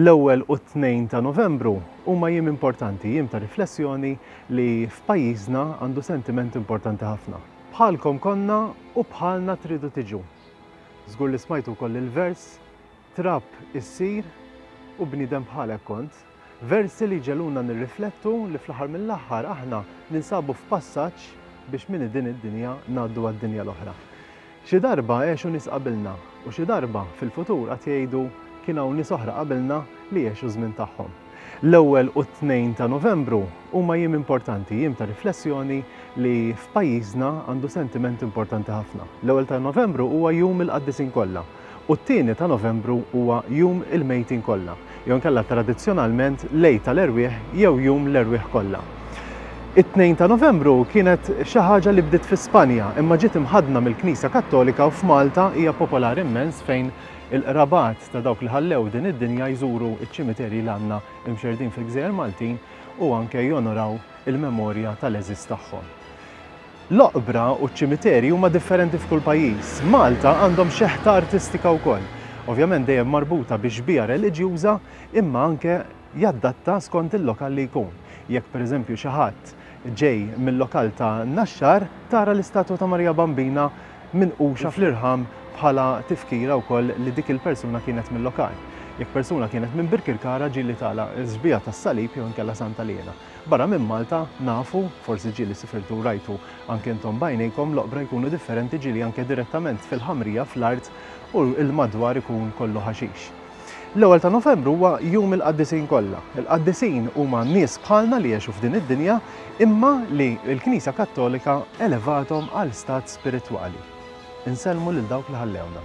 L-ewwel u t-tnejn ta' Novembru huma jiem importanti, jiem ta' riflessjoni li f'pajjiżna għandu sentiment importanti ħafna. Bħalkom konna u bħalna tridu tiġu. Żgur li smajtu wkoll il-vers Trab issir u bniedem bħalek kont. Versi li jġegħluna nirriflettu li fl-aħħar mill-aħħar aħna ninsabu f'passaġġ biex minn din id-dinja ngħaddu għad-dinja l-oħra. Xi darba għexu nies qabilna, u xi darba, fil-futur, għad jgħidu, Kien hawn nies oħra qabilna li għexu ż-żmien tagħhom. L-Ewwel u t-Tnejn ta' Novembru huma jiem importanti, jiem ta' riflessjoni li f'pajjiżna għandu sentiment importanti ħafna. L-Ewwel ta' Novembru huwa jum il-Qaddisin kollha. u t-tieni ta' Novembru huwa Jum il-Mejtin Kollha, jew inkella tradizzjonalment l-Għid tal-Erwieħ jew Jum l-Erwieħ Kollha. It-Tnejn ta' Novembru kienet xi ħaġa li bdiet fi Spanja imma ġiet imħaddna mill-Knisja Kattolika u f'Malta hija popolari immens fejn il-qrabat ta' dawk li ħallew din id-dinja jżuru ċ-ċimiterji li għandna mxerrdin fil-gżejjer Maltin u anke jonoraw il-memorja tal-għeżież tagħhom. L-oqbra u ċ-ċimiterji huma differenti f'kull pajjiż. Malta għandhom xeħta artistika wkoll. Ovvjament dejjem marbuta bi xbieha reliġjuża imma anke jaddatta skont il-lokal li jkun. Jekk pereżempju xi ħadd ġej mil-lokal ta' Naxxar tara l-istatwa ta' Marija Bambina minquxa fl-irħam bħala tifkira wkoll li dik il-persuna kienet mil-lokal. Jekk persuna kienet minn Birkirkara ġieli tara l-xbieha tas-Salib jew inkella Santa Liena. Barra minn Malta, nafu, forsi ġieli sifirtu u rajtu anke intom b'għajnejkom, l-oqbra jkunu differenti ġieli anke direttament fil-ħamrija fl-art u l-madwar ikun kollu ħaxix. L-ewwel ta' Novembru huwa jum il-qaddisin kollha. Il-qaddisin huma nies bħalna li għexu f'din id-dinja imma li l-Knisja Kattolika elevathom għal stat spiritwali. Insellmu lil dawk li ħallewna.